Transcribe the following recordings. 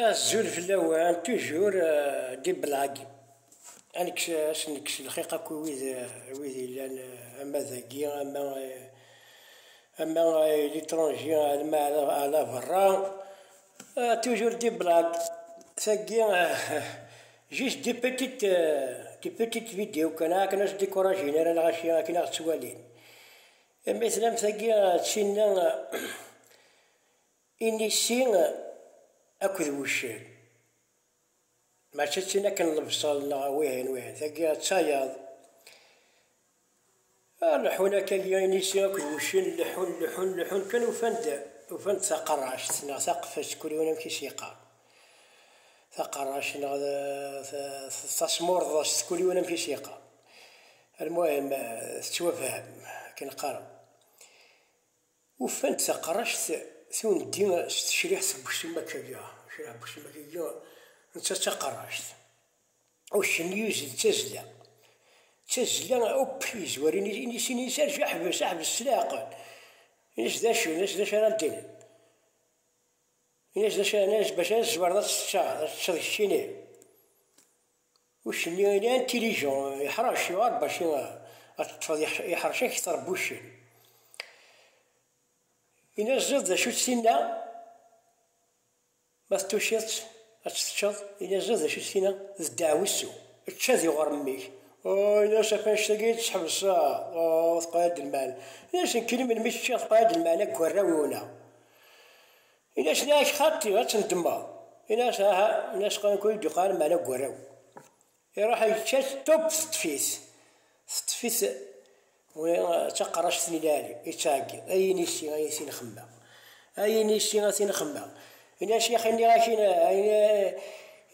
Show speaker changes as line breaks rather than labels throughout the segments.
Azul fell-awen, tujur di Belagi. Ad nekkes, ad sen-nekkes lxiq akk i wid, i wid yellan ama dagi, ama, ama l'étranger, ama ala berra. Tujur di Belagi. Tagi, juste des petites, des petites vidéos kan, ara ken as-décourager ara neɣ acu, akken ad ɣ-ttwalin. Imi tennam tagi d tinna, Inisi akked wuccen mačči d tin akken lebṣel neɣ wihin wihin, tagi d tayaḍ. Leḥḥun akka inisi akked wuccen, leḥḥun leḥḥun leḥḥun kan ufan-d ufan-d taqerract neɣ taqfest kul yiwen amek i s-yeqqar, taqerract neɣ tasmurḍest kul yiwen amek i s-yeqqar, almuhim tettwafham akken qqaren. Ufan-d taqract tundi s tecriḥt n ucemmak-agi. Acriḥ n ucemmak-agi netta d taqract. Uccen yuzzel d tazzla. D tazzla akk yezwar inisi-nni-s arǧu ḥbes, ḥbes s leɛqel. Ini-as d acu, ini-as d acu ara d-tiniḍ. Ini-as d acu, ini-as bac ara tzemreḍ ad teččeḍ, ad teččeḍ keččini. Uccen-nni il est intelligent, yeḥṛec, yuɣal bac i ad t-teṭṭfeḍ yeḥṛec ad k-ittṛebbi uccen. Ini aziḍ d acu-tt tinna? Ma tuciḍ-tt ad tt-teččeḍ, ini aziḍ d acu-tt tinna? D ddeɛwessu, ečč ad iɣuṛ mmi-k. Aa, ini-as ɣef annect-agi i tt-ḥebseɣ, aa, teqla-d lmeɛna. Ini-as nekkini melmi i tt-ččiɣ teqla-d lmeɛna deg warraw-iw-nneɣ. Ini-as la ak-xaṭi ad tendemmeḍ. Ini-as aha, ini-as qrib kul dduqan meɛna deg warraw. Iruḥ yečča-t, tup teṭṭef-it. Teṭṭef-it d taqerract n lɛali, ittɛeggi, ay inisi ay tin-xemmeɣ, ay inisi a tin-xemmeɣ. Ini-as yax ini-ak ini,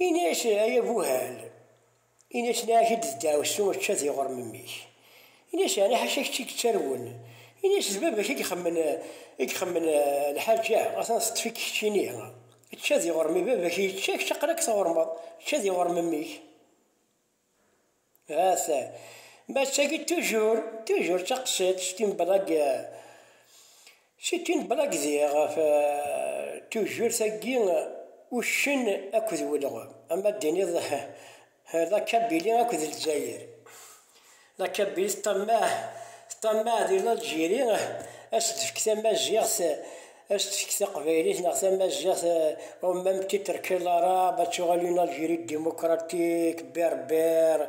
ini-as ay abuhal. Ini-as laɛi-d d ddaɛwessu ečča d iɣrem mmi-k. Ini-as yeɛni ḥaca kečč i yettarwun. Ini-as d baba-k i ixemmen i ixemmen lḥaǧa atan teṭṭef-ik keččini. Ečča d iɣrem i baba-k i yečča kečč aql-ak tɣurmeḍ. Ečča d iɣrem mmi-k. Ahat mattagi tujur tujur d taqsiṭ s timebla deg C'est une blague diɣ ɣef tujjurt agi uccen akked welɣem ama d-tiniḍ la kabili akked lezzayer la kabili teṭṭammaɛ teṭṭammaɛ di l'Algérie a s-d-tefk tamaziɣt a s-d-tefk taqbaylit neɣ tamaziɣt au même titre que l'arabe ad tuɣal une Algérie démocratique berbère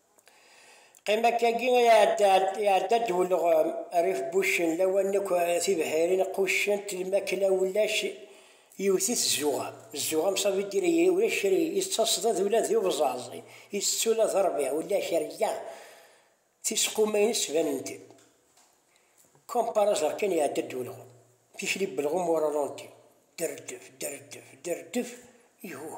Qqim akkagi ay iɛedda-d ulɣem, rrif n wuccen, lawan akk tibḥirin quccent lmakla ulac yewwet-it zzuɣa, zzuɣa mṣabi diri ulac kra yettaṣdad ula d ubẓaẓ itett ula d rrbiɛ ulac rrya tisquma-ines banent-d comme par hasard kan iɛedda-d ulɣem tikli n ulɣem au ralenti, derrdef, derrdef, derrdef, ihuh!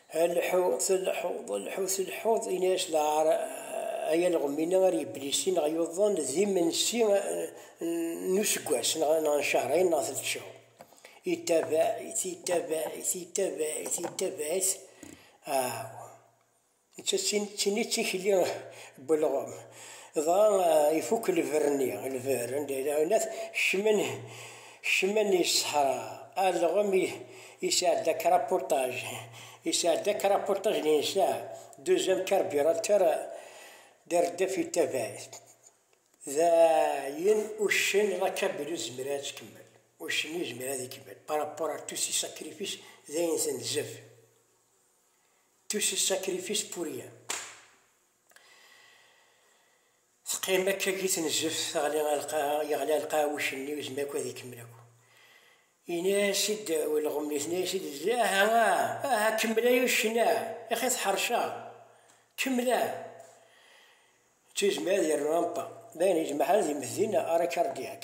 Lḥu, tleḥḥu, lḥu, tleḥḥuḍ, ini-as lɛar, ay alɣem-inna ar yeblisi neɣ yuḍen d imensi n useggas neɣ n cehṛin neɣ telt cehur. Yettabaɛ-it, yettabaɛ-it, yettabaɛ-it, yettabaɛ-it, aw! Netta d tin i d tikli n welɣem. Dɣa ifukk lberr-nni, lberr anda yella, kecmen. Kecmen i ṣṣeḥra, alɣem yesɛedda krapuṭaj, yesɛedda krapuṭaj n yensa, deuxième carburateur d reddef i tavayt. D ayen uccen la cabine ur tezmir ara ad tkemmel. Uccen ur yezmir ara ad ikemmel par rapport à tous ces sacrifices, d ayen tenzef. Tous ces sacrifices pour rien. Teqqim akka deg tnezeft, teɣli ar lqaɛa, yeɣli ar lqaɛa wuccenni, ur yezmir akk ad ikemmel akk. Yenna-as-id ulɣem, yetna-as-id lezzi, Aha, ah, aha, kemmel ay uccen, ah, ixi teḥṛec-aɣ, kemmel, ah. Ur yezmir ad yernu ampa, dayen yejmeḥ-d imeddi n Arakardyak.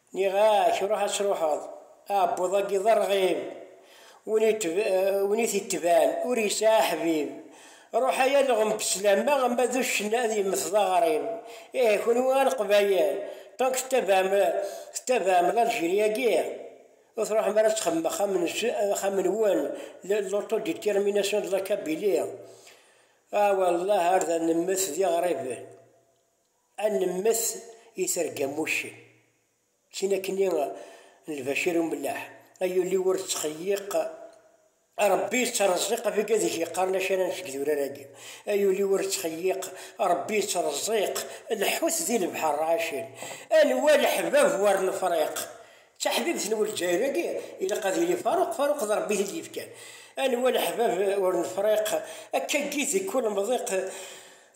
Nniɣ-ak, ruḥ ad truḥeḍ, aɛebbuḍ-agi d arɣib, win i t-itban ur yesɛi aḥbib, ruḥ ay alɣem beslama ama d uccen ad yemmet d aɣrib, ihi kunwi a leqbayel tant que tettabaɛem l'Algérie-agi ur truḥem ara ad texdmem axxam-nwen l'autodétermination de la Kabylie, ah wallah ar d ad nemmet d iɣriben. Ad nemmet i terga n wuccen. Tin akkenni n lbacir umellaḥ. Ay ul-iw ur ttxeyyiq. A Rebbi yettreẓẓiq abeg adeg yeqqaren acaran seg idurar-agi. Ay ul-iw ur ttxeyyiq. A Rebbi yettreẓẓiq. Lḥut di lebḥer rɛacen. Anwa leḥbab war lefriq. D taḥbibt n Lezzayer-agi, ilaq ad yili Faruq, Faruq d Rebbi i t-id-yefkan. Anwa leḥbab ur nefriq. Akka n yid deg ulemḍiq.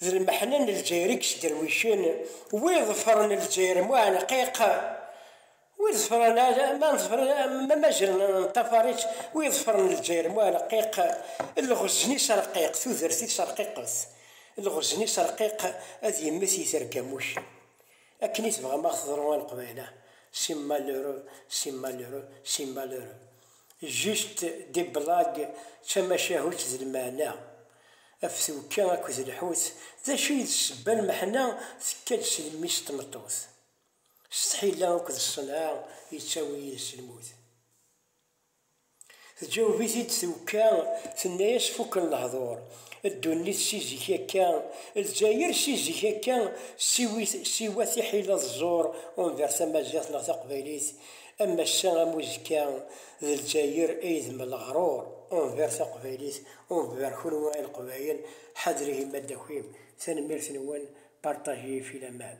D lmeḥna n Lezzayer i yesderwicen, wi iḍefren Lezzayer m uɛenqiq, wi iḍefren ma mazal neṭṭafar-itt, wi iḍefren Lezzayer m uɛenqiq, lɣezen-is rqiq, tudert-is rqiqet, lɣezen-is rqiq, ad yemmet yiterga am uccen. Akken i tebɣam a ɣ-teḍru a Leqbayel ah! C'est malheureux, c'est malheureux, c'est malheureux. Juste des blagues tamacahut d lmeɛna, af twekka akked lḥut d acu i d ssebba lmeḥna tekka-d si lmmi-s tmeṭṭut s tḥila akked ṣṣenɛa yettawi yid-s lmut. Tǧaweb-it-id twekka tenna-yas fukken lehdur, ddunit si zik akka, Lezzayer si zik akka siwa tiḥila d ẓẓur envers tamaziɣt neɣ taqbaylit am ass-a am uzekka d Lezzayer ay d Mleɣrur enver taqbaylit enver kunwi a leqbayel ḥadr ihi ma d akim tanemmirt nwen partager ifi laman.